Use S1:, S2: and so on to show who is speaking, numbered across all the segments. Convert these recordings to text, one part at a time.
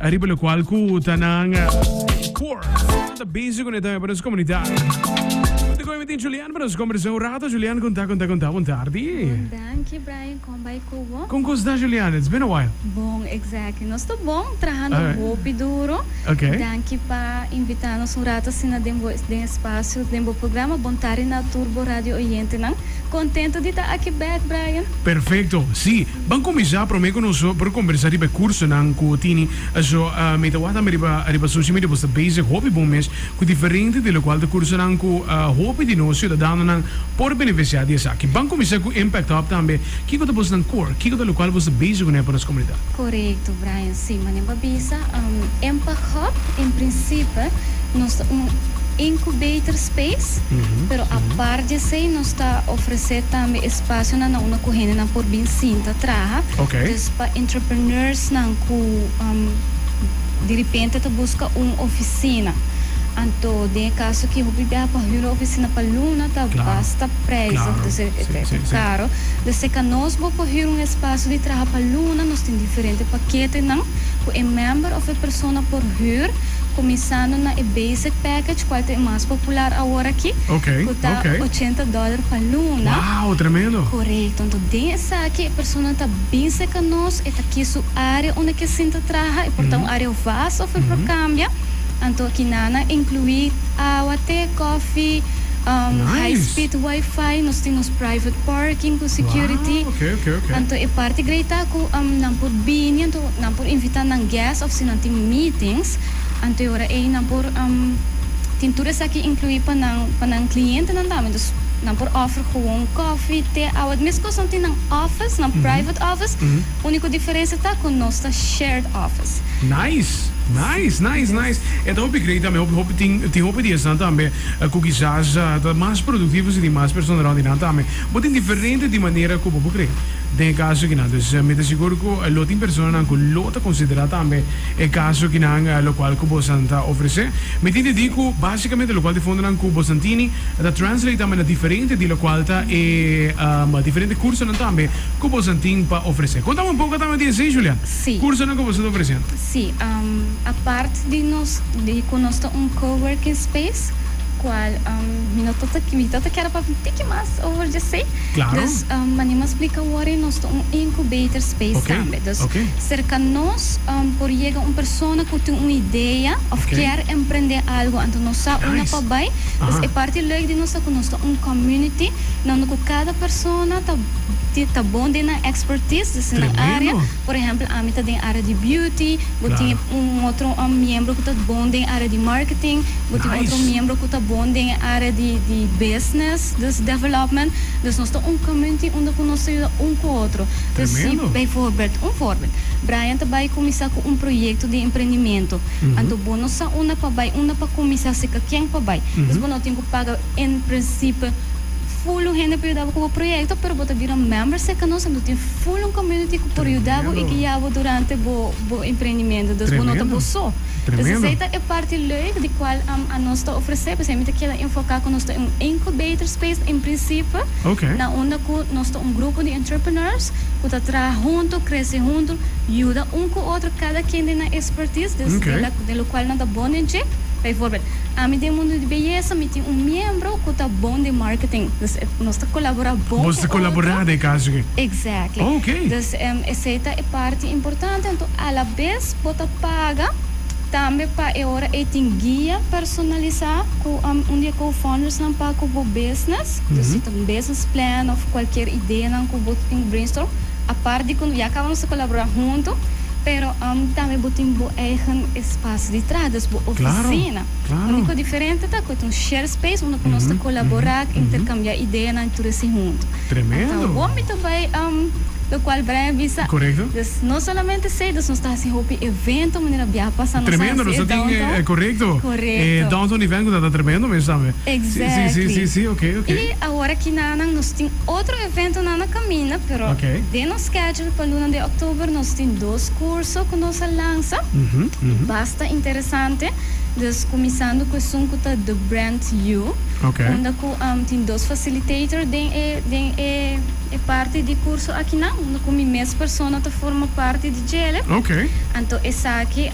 S1: Ariba lo cual cu ta nan core. Ta busy con esta para su comunidad. Te coge metin Julian para nos conversar un rato. Julian, conta, conta, conta. Buen tarde. Bon, dankie Brian.
S2: Con bay cu bo? Con cos ta Julian? It's
S1: been a while. Bon, exactly.
S2: Nos ta bon, trahando Alright. hopi duro. Okay. Dankie
S1: pa
S2: invita nos un rato asina den bo den espacio, den bo programa. Bon tarde na tur bo radio oyentenan. Contento di ta aki back Brian. Perfecto, si.
S1: Ban cuminsa prome cu nos por conversa riba e cursonan cu tini. Eso mi ta wak tambe riba riba social media. Bo sta bezig hopi bon mes cu diferente di locual ta cursonan cu hopi di nos ciudadanonan por beneficia di esaki. Ban cuminsa cu Impact Hub tambe. Kico ta bosnan core? Kico ta locual bo sta bezig cu ne pa nos comunidad? Corecto Brian.
S2: Si, manera bo a bisa, Impact Hub en principe nos ta un incubator space, pero apart di esey nos ta ofrece tambe espacionan aunda cu hendenan por bin sinta traha. Dus pa entrepreneursnan cu diripente ta busca un oficina, anto den e caso cu hopi biaha pa huur e oficina pa luna ta basta prijzig, dus e ta caro, dus si ca nos bo por huur un espacio di traha pa luna, Tin diferente paketenan ku e mèmber òf e persona por hür, kuminsando na e basic package, kual ta e mas popular aworakí, ku ta ochenta dòler pa luna. Korekto.
S1: Anto den
S2: esaki e persona ta bin serka nos, e ta kis su área unda ke sinta traha, e por ta un área vas òf e por kambia. Anto kinan a inkluí awa, te, kòfi, high speed wifi, nos tin nos private parking ku security. Anto e parti grei ta ku nan por bini, anto nan por invitá nan gèst òf si nan tin mítings. Anto e ora ei nan por tin tur esaki inkluí pa nan pa nan klientenan tambe. Dus nan por òfer gewoon kòfi, te, awa. Di meskos nan tin nan òfis, nan private òfis, úniko diferensia ta ku nos ta shared òfis. Nice!
S1: Nice! Nice! Nice! E ta hopi grei tambe. Hopi hopi tin tin hopi di esnan tambe ku kisas ta mas produktivo si tin mas persona rònt di nan tambe. Bo tin diferente di manera ku bo por kree. Den e kaso kinan. Dus mi ta sigur ku lo tin personanan ku lo ta konsiderá tambe e kaso kinan lokual ku bosan ta ofresé. Mi tin didi ku básikamente lokual di fondonan ku bosan tini ta translate tambe na diferente di lokual ta e diferente kursonan tambe ku bosan tin pa ofresé. Kontami un poko tambe di esei, Julia. Kursonan ku bosan
S2: ta ofresé.
S1: Sí.
S2: Apart di nos di ku nos ta un coworking space. cual mi no ta mi ta ta kere pa un tiki mas over djesei. Claro. Dus
S1: mane mas
S2: splica worry nos ta un incubator space okay. tambe. Dus okay. cerca nos um, por yega un persona cu tin un idea of okay. kier emprende algo anto nos sa nice. una pa bay. Dus uh-huh. e parti leuk di nos ta cu nos ta un community donde cu cada persona ta ta bon den nan expertise, dus nan area. Por ehempel ami ta den área di beauty, bo tin un otro miembro ku ta bon den área di marketing, bo tin otro miembro ku ta bon den e área di di business, dus development. Dus nos ta un community unda ku nos ta yuda un ku otro. Dus si beivoorbeeld, un voorbeeld, Brian ta bai kuminsá ku un proyekto di emprendimento, anto bo no sa unda pa bai, unda pa kuminsá, seka ken pa bai. Dus bo no tin ku paga en prinsipe. Ful un hende por yudabo ku bo proyekto pero bo ta bira un member serka nos anto tin ful un community ku por yudabo i guia bo durante bo bo emprendimentu dus bo no ta bo so dus esei ta e parti leuk di kual anos ta ofresé p'esei mi ta keda enfoká ku nos ta un incubator space en prinsipio na unda ku nos ta un grupo di entrepreneurs ku ta traha huntu krese huntu yuda un ku otro kada kende na e expertise dus den lokual nan ta bon den dje p'e forbel ami den mundu di beyesa mi tin un miembro. Esnan cu ta bon den marketing. Dus e nos ta colabora bon cu otro. Bos ta colabora den
S1: caso aki. Exactly. Oh, ok.
S2: Dus esey ta e parti importante. Anto alabes bo ta paga tambe pa e ora ey tin guia personalisa cu un di e co-foundersnan pa cu bo business. Dus si ta un business plan of cualkier ideanan cu bo tin bo brainstorm, apart di cu ya caba nos ta colabora hunto, pero tambe bo tin bo eigen espacio di traha, dus bo oficina. Claro. Unico diferente ta cu ta un shared space unda cu nos ta colabora cu intercambia ideanan y tur esey hunto. Anta awor
S1: mi ta bay
S2: lo cual Brian bisa. Dus no
S1: solamente
S2: esey dus nos ta haci hopi evento manera bia pasa nos a haci e downtown.
S1: Corecto. E downtown event cu ta ta tremendo mes tambe. Exactly.
S2: Y
S1: awor aki
S2: nanan nos tin otro eventonan na caminda pero den nos schedule pa luna de october nos tin dos curso cu nos a lansa y basta interesante. Sante, dus kuminsando ku esun ku ta The Brand You, unda ku
S1: tin
S2: dos facilitator den e den e parti di kurso akinan, unda ku mi mes persona ta forma parti di djel'e. Anto
S1: esaki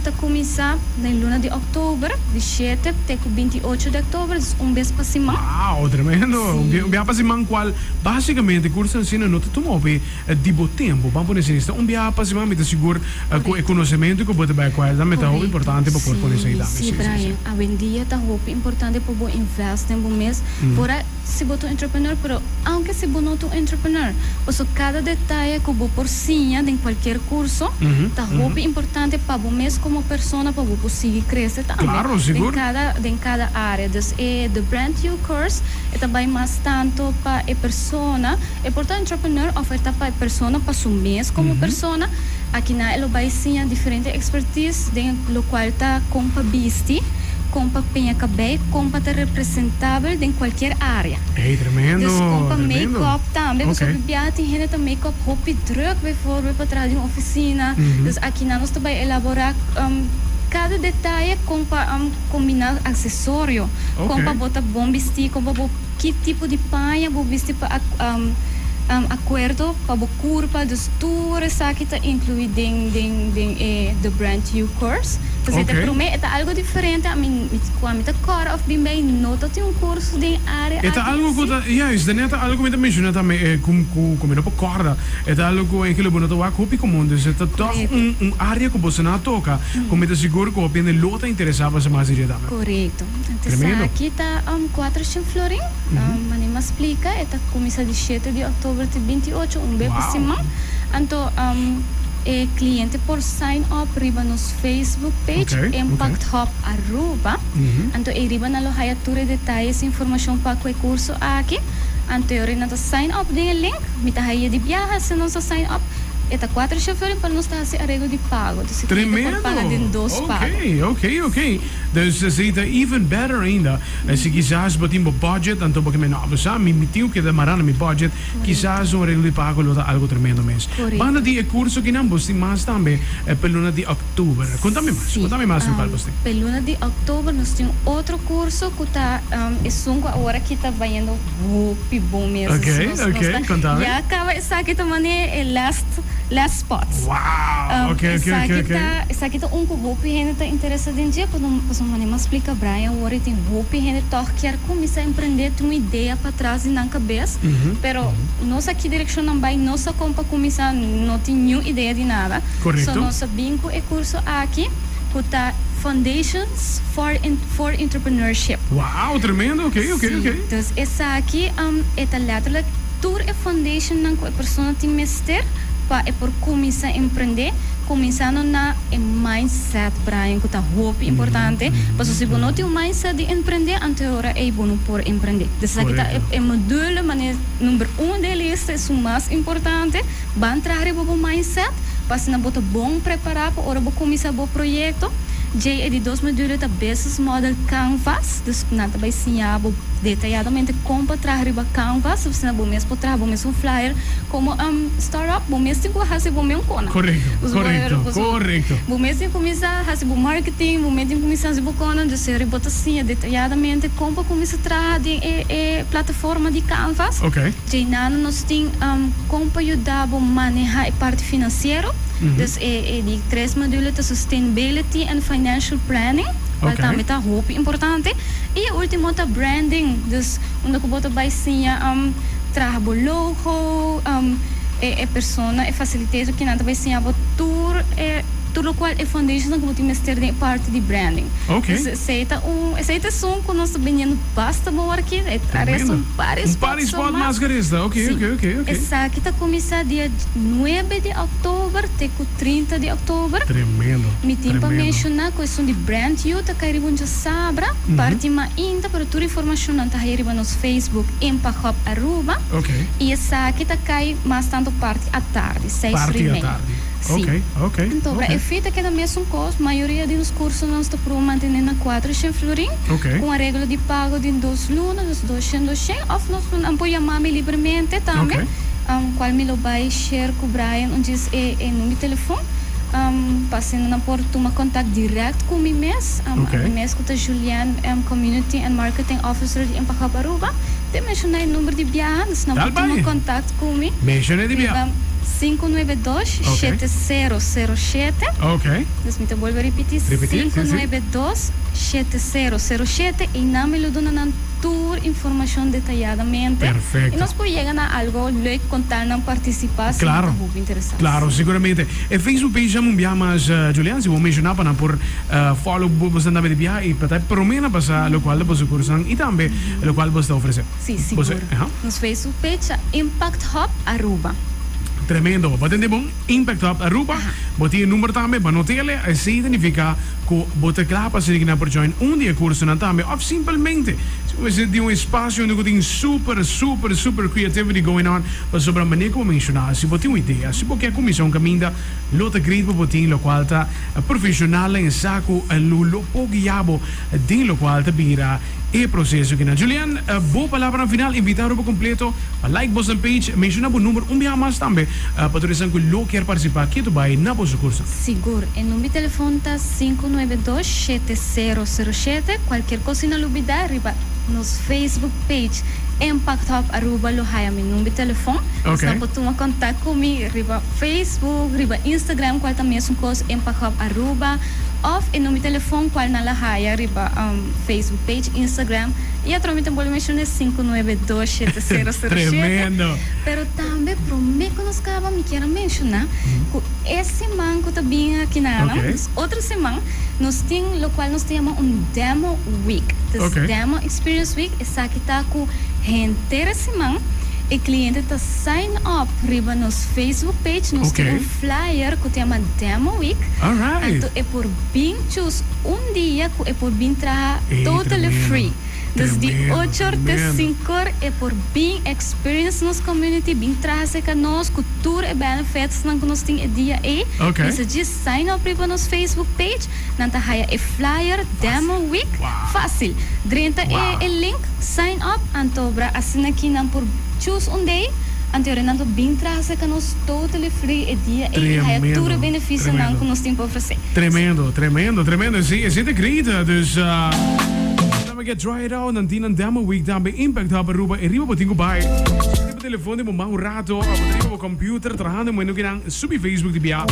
S2: ta kuminsá den luna di òktober, di shete te ku binti ocho di òktober, dus un bes pa siman. Wao, tremendo!
S1: Un biaha pa siman, kual básikamente kursonan asina no ta tuma hopi. di bo tin bo ban pone esei esta un biaha pa siman mi ta sigur ku e konosementu ku bo ta bai kual tambe ta hopi importante pa por pone esei tambe si si si.
S2: Awendia ta hopi importante pa bo invest den bo mes por a si bo ta un entrepreneur pero aunke si bo no ta un entrepreneur paso kada detaye ku bo por siña den kualkier kurso ta hopi importante pa bo mes komo persona pa bo por sigui krese tambe den kada
S1: den kada
S2: área dus e The Brand You Course e ta bai mas tanto pa e persona E por ta entrepreneur oferta pa e persona pa su mes como persona. Aki na e lo bay siña diferente expertise den lo cual ta con pa bisti, con pa peña cabey, con pa ta representabel den cualkier area. Ey, tremendo, tremendo. Dus
S1: con pa make
S2: up tambe,
S1: pasobra Okay.
S2: bia tin hende
S1: ta make
S2: up hopi druk bijvoorbeeld pa traha den un oficina. Dus aki na nos ta bay elabora em cada detaye con pa em combina accesorio, con Okay. pa bo ta
S1: bon bisti,
S2: con pa bo. Ki tipo di paña bo misti pa acuerdo pa bo curpa, dus tur esaki ta inclui den den e The Brand You course. Ta ser ta prome e ta algo diferente ami cu ami ta cora of bin bay no ta tin un curso den area aki. E ta algo cu ta
S1: juist den e ta algo cu mi ta menciona tambe e cu cu mi no por corda e ta algo cu engelui bo no ta wak hopi comun dus e ta toch un un area cu boso na toca cu mi ta sigur cu hopi hende lo ta interesa pa sa mas diriet tambe. Corecto.
S2: Primero. Esaki ta um cuatro chin florin. Um anima splica e ta cuminsa di shete di october te binti ocho, un be pa siman. Anto um e cliente por sign up riba nos Facebook page Impact Hub Aruba. Anto ey riba nan lo haya tur e detayes y informacion pa cu e curso aki. Anto ey ora nan ta sign up den e link, mi ta haya di biaha si nos a sign up. E ta cuatro chin florin pero nos ta haci areglo di pago. Dus e cliente por paga den
S1: dos
S2: pago. Tremendo. Ok, ok, ok.
S1: Dus esei ta even better ainda. Si kisas bo tin bo budget, anto bo keme, No, bo sa, mi mi tin ku keda mará na mi budget, kisas un reglo di pago lo ta algu tremendo mes. Banda di e kurso kinan bos tin mas tambe p'e luna di òktober. Kunta mi mas, kunta mi mas lokal bos tin. P'e luna di òktober
S2: nos tin un otro kurso ku ta esun ku awor aki ta bayendo hopi bon mes. Ok, ok, kunta
S1: mi. Ya kaba esaki
S2: ta manera e last, last spots. Wow, ok,
S1: ok, ok, ok. Esaki
S2: ta, esaki ta un ku. Hopi hende ta interesa den dje pasobra pasobra mane mas splica Brian awor e tin hopi hende tog kier cuminsa emprende tin un idea patras di nan cabes pero nos aki direccion nan bay no sa con pa cuminsa no tin niun idea di nada so nos a bin
S1: cu e
S2: curso aki cu ta Foundations for for Entrepreneurship si
S1: dus
S2: esaki e ta letterlijk tur e foundation nan cu e persona tin mester pa e por cuminsa emprende. Kuminsando na e mindset, Brian, ku ta hopi importante. Paso si bo no tin un mindset di emprendé anto e ora ei bo no por emprendé. Des esaki ta e e module mane number un den e lista, e su mas importante. Ban traha riba bo mindset pa asina bo ta bon prepará pa ora bo kuminsá bo proyekto. Djei e di dos module ta Business Model Canvas. Dus nan ta bai siña bo detayadamente kon pa traha riba Canvas asina bo mes por traha bo mes un flyer komo. Arab, bo mes tin ku hasi bo men kona. Korekto, korekto,
S1: korekto.
S2: Bo mes tin kuminsá hasi bo marketing, bo mes tin kuminsá hasi bo kona. Entonces seri bo ta siña detayadamente kon pa kuminsá traha den e e plataforma di Canvas. Oke. Dje nan
S1: nos tin
S2: kon pa yuda bo manehá e parti finansiero. Entonces e e di tres module ta Sustainability and Financial Planning, kual tambe ta hopi importante. I e último ta Branding, dus unda ku bo ta bai siña traha bo logo. Cu e persona, e facilitator ki nan ta bay siña bo tur e, tur locual e foundations nan cu bo tin mester den e parti di branding. Ok. Entonces esey ta
S1: un,
S2: esey ta esun cu nos ta biniendo basta bo ora aki. Tremendo. Ta resta un par di spotson mas. Un par di spot mas ke
S1: resta. Ok, ok, ok, ok. Si. Esaki ta
S2: cuminsa dia nuebe di october te cu trinta di october. Tremendo, tremendo. Mi tin
S1: pa menciona
S2: cu esun di Brand You ta cay riba un djasabra, parti mainta, pero tur informacionnan ta hay riba. Facebook in pa Hub Aruba y esaki
S1: ta
S2: cay mas tanto parti atardi, seis ri mei. Si. Anto
S1: bra e fi ta keda
S2: mesun cos, mayoria di nos cursonan ta probo mantene na cuatro shen florin, cu un areglo di pago di dos luna, dus dos shen, dos shen, of nos nan por yama mi libremente tambe, cual mi lo bay share cu Brian un djis e e number di telefon, pa asina nan por tuma contact direct cu mi mes. mes ku ta Julien M. Community and Marketing Officer di Impagop Aruba, te menshona e number di biaha, dus nan por tuma kontakt ku mi riba sinku
S1: nuebe dos shete
S2: sero sero shete,
S1: dus mi ta bolbe a ripití
S2: sinku nuebe dos shete sero sero shete, einan mi lo duna nan tur informashon detayadamente i nos por
S1: yega na
S2: algu lèk kon tal nan partisipá si nan
S1: ta hopi interesá. Follow bo bo sentame di biaha y ta e prome na pasa locual ta boso cursonan y tambe locual bo sta ofrece. Si sigur. Nos
S2: fe su fecha Impact Hub Aruba. Tremendo
S1: bo tende bon Impact Hub Aruba bo tin e number tambe bo notele así identifica cu bo ta cla pa sinignan por join un di e cursonan tambe of simplemente si bo mester tin un espacio unda cu tin super super super creativity going on pasobra mane cu bo menciona si bo tin un idea si bo ke cuminsa un caminda Lo ta grei pa bo tin locual ta profesional na e sa cu lo lo por guia bo den locual ta bira e proceso kina. Julian, bo palabranan final, invitado pa completo pa like boso page, menciona bo number un biaha mas tambe pa tur esan cu lo kier participa ke ta bay na bo sucursal. Sigur, e number
S2: telefon ta sinku nuebe dos shete sero sero shete, cualkier cos si nan lo bida riba nos Facebook page Impact Hub Aruba lo haya mi number telefon, dus nan por tuma contact cu mi. riba Facebook, riba Instagram cual ta mesuncos en Pagop Aruba of e number telefon cual nan la haya riba Facebook page, Instagram y atrobe mi ta bolbe menciona e sinku nuebe dos shete sero sero shete.
S1: Pero tambe
S2: prome cu nos caba mi kier a menciona cu e siman cu ta bin aki na nan, dus otro siman, nos tin locual nos ta yama un Demo Week, ta es Demo Experience Week. Esaki ta ku henter e siman e kliente ta sign up riba nos Facebook page, nos tin un flyer ku ta yama Demo Week, anto e por bin chus un dia ku e por bin traha totally free. Dus di ochor te sinkor e por bin experience nos community, bin traha serka nos ku tur e benefitsnan ku nos tin e dia ei. Mester djis sign up riba nos Facebook page. Nan ta haya e flyer Demo Week fácil. Drenta e e link Sign Up antobra asina ki nan por choose un day anto e ora nan lo bin traha serka nos totally free e dia ei i haya tur e beneficionan ku nos tin pa ofresé. Tremendo, tremendo,
S1: tremendo. Sí, esei ta great. Dus, laga ke try it out. Nan tin nan Demo Week tambe, Impact Hub Aruba, e riba bo tin ku bai. Sali bo telefòn di bo man un rato, bo ta riba bo kòmpiuter trahando moen no ke nan subi Facebook di bia,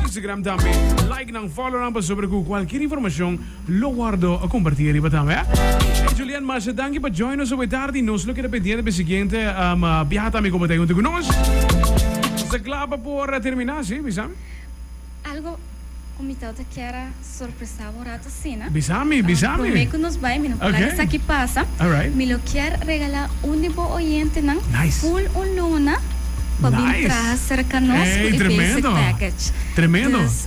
S1: Instagram tambe. Like. y nan folonan pasobra cu cualkier informacion lo wordo comparti ariba tambe. Ey Julian masha danki pa join nos awor tardi, nos lo keda pendiente pa e siguiente biaha tambe como ta junto cu nos. Nos ta cla pa por termina, si, Misaal? Algo
S2: cu mi tawata kier a sorpresa bo rato asina. Bisa mi, bisa mi. Prome
S1: ku nos bai,
S2: mi no por laga esaki pasa. Mi lo kier regalá un di bo oyentenan ful un luna pa bin traha serka nos ku e basic package.
S1: Dus,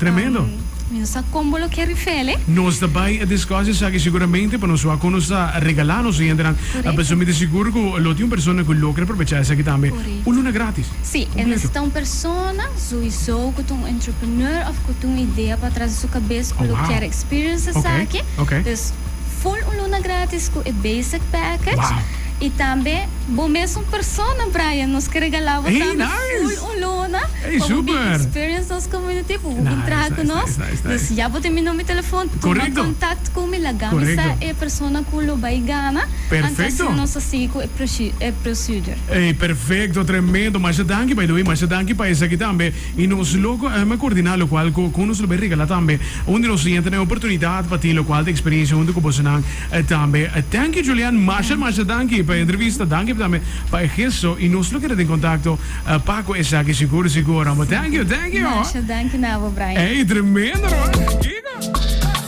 S1: mi no sa
S2: kon bo lo kier rifele. Nos ta bai a
S1: diskus esaki seguramente pa nos wak kon nos ta regalá nos oyentenan. Pasobra mi ta sigur ku lo tin un persona ku lo kier aprovechá esaki tambe. Un luna gratis? Sí, e nesesita un
S2: persona, souiso cu ta un entrepreneur of cu ta un idea pa atras di su cabes cu lo kier experience esaki. Dus, full un luna gratis cu e basic package. Y tambe bo mes un persona, Brian, nos ke regala bo tambe full un luna pa bo bin
S1: experience nos
S2: community, pa bo bin traha cu nos. Dus ya bo tin mi number di telefon, tuma contact cu mi, laga mi sa e persona cu lo bay gana, antes di nos
S1: a sigui
S2: cu e procedure. Ey perfecto,
S1: tremendo. Masha danki by the way, masha danki pa esaki tambe. Y nos lo eh, me coordina locual cu cu nos lo be regala tambe un di nos oyente n'e oportunidad pa tin locual di experiencia hunto cu bosonan eh tambe. Thank you Julian, masha masha danki p'e entrevista, danki tambe pa e gesto y nos lo kere den contacto eh pa cu esaki sigur sigur amo. Thank you, thank you. Masha danki na bo Brian.
S2: Ey tremendo no man,
S1: kico?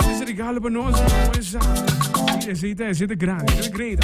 S1: Ey ese regalo pa nos, amo esaki. Sí, ese ta ese ta grandi, ese ta great.